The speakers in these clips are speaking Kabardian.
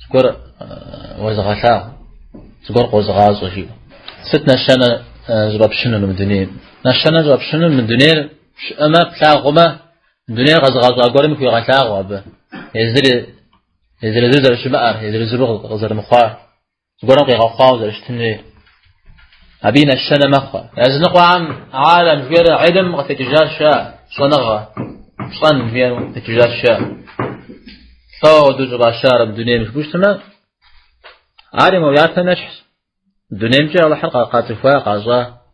Зыгуэр уэзыгъэлъагъу, зыгуэр къозыгъащӏэ жиӏэ. Сыт нэщэнэ щӏыфӏэпщынур мы дунейм? Нэщэнэ щӏыфӏэпщынур мы дунейр пщӏэмэ, плъагъумэ, мы дунейр къэзыгъэщӏа гуэрым хуигъэлъагъуэ абы. Езыр езыр-езыру зэрыщымыӏэр, езыр-езыру къызэрымыхъуар. Зыгуэрым къигъэхъуауэ зэрыщытыр абы и нэщэнэ мэхъу. Языныкъуэхэм алэм жиӏэр гьилм къытекӏыжаращ, щӏэныгъэ, щӏэн жиӏэр къытекӏыжаращ. Лӏо апхуэдэу щӏыфӏащар дунейм жыпӏэу щытмэ, ар и муэуяпэ нэщхьщ. Дунеймкӏэ Алыхьыр къацӏыхуа, къащӏа.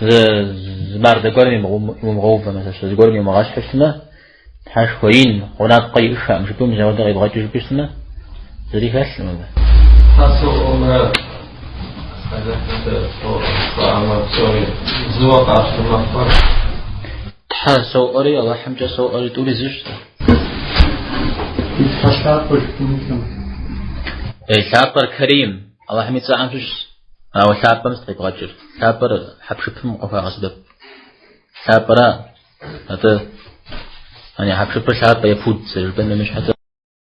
зы мардэ гуэрым иумыгъэувэу мэсэлэн зыгуэрым еумыгъэщхьу щытмэ тхьэшхуэ ин гъунапкъэ иӏышаӏым жыпӏэу апхуэдэу къибгъэкӏыу жыпӏэу щытмэ зыри хэлъкъым абы тхьэ соӏуэмрэ зыуэ къащтэ мыхэр тхьэ соӏуэри аллахьымкӏэ соӏуэри тӏури зыщ и тхьэ лъапӏэр жыпӏэнутэм е лъапӏэр карим Аллахьым и цӏэхэм щыщщ, ауэ лъапӏэм сыт къибгъэкӏыр? Лъапӏэр хьэпшыпым къыхуагъэсэбэп. Лъапӏэра, атӏэ, яни хьэпшыпыр лъапӏэ е пуд зэрыжыпӏэм емыщхьэкӏэ.